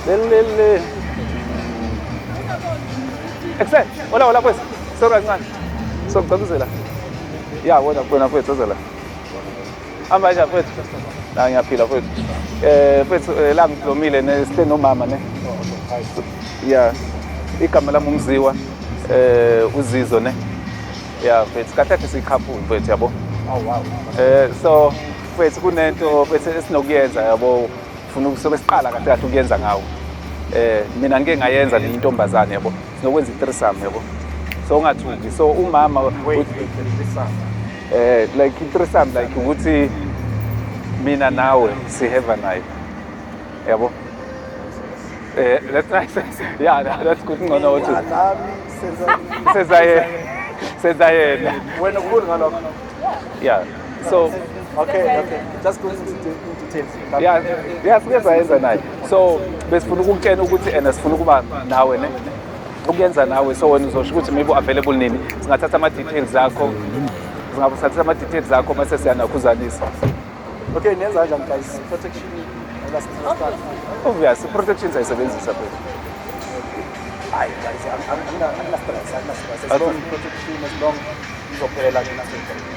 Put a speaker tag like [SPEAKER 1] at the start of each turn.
[SPEAKER 1] Lelele. Excel, hola hola pues. Sorry kancane. So ngicabuzela. Ya wena kubona kwethu ozela. Hamba nje kwethu. La ngiyaphila kwethu. Eh kwethu eh, la ngiblomile ne sithe nomama ne. Ya. Igama lami umziwa eh uzizo ne. Ya kwethu kahle kahle siyikhaphu kwethu yabo. Oh wow. Eh so Mfethu kunento mfethu esinokuyenza yabo ufuna ukusobe siqala kahle kahle ukuyenza ngawo. Eh mina ngike ngayenza nenye intombazane yabo sinokwenza i-threesome yabo. So ungathuki so umama eh like i-threesome like ukuthi mina nawe siheva naye. Yabo? Eh that's nice. Yeah, that- that's good ngcono uthi Nami senza senza yena. Senza yena. wena ukhulu
[SPEAKER 2] ngalokho. Yeah.
[SPEAKER 1] so okay
[SPEAKER 2] okay just go into details yeah yeah
[SPEAKER 1] sike sayenza naye so besifuna ukukutshena ukuthi ena sifuna ukuba nawe ne ukuyenza nawe so wena uzosho ukuthi maybe available nini singathatha ama details akho singathatha ama details akho mase siyanakhuzanisa okay
[SPEAKER 2] nenza kanjani guys protection
[SPEAKER 1] obviously protection sayisebenzisa phela
[SPEAKER 2] hayi guys angina stress angina stress as long protection as long izophela mina